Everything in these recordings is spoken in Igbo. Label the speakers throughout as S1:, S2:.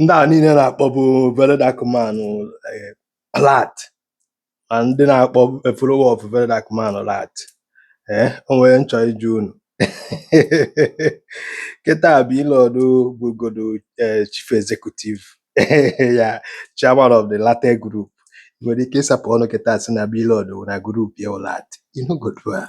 S1: ndị a niile na-akpọbu very dark man rat ma ndị na-akpọ follower of very dark man rat ee o nwere m chọ ịjụ unu kịta Blord bụgodo eh, chief executive ya chairman of the Ratel group Ị nwere ike ịsapụ ọnụ kịta si na Blord na group ya rat you no go do am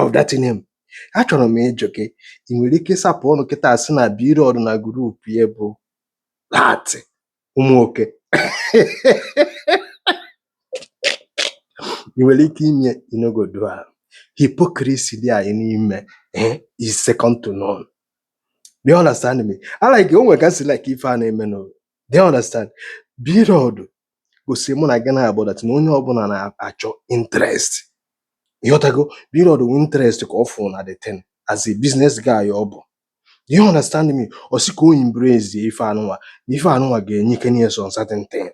S1: of that name achọrọ m ịjụ gị ị nwere ike ịsapụ ọnụ kịta si na Blord na group ya bụ rat ụmụ oke ị nwere ike ime you no go do am hypocrisy dị anyị n'ime eh, is second to none do you understand me I like o nwere ka o si like ife a na-eme no do you understand Blord gosi mụ na gị na-abụ that na onye ọbụla na-achọ interest ịghọtago Blord wu interest ka ọ fụ na the thing as a business guy ọ bụ do you understand me ọ sị ka o embrace ife anụnwa na ife anụnwa ga-enye ike na some certain thing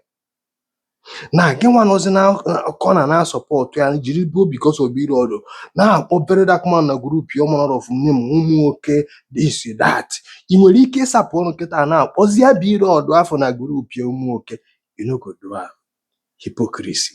S1: na gị nwa nọzi na corner na-support ya jiri bụ because of Blord na-akpọ very dark man na group ya all manner of name ụmụ oke this that ị nwere ike ịsapụ ọnụ kịta na-akpọzie Blord afụ na group ya ụmụ oke you no go do am hypocrisy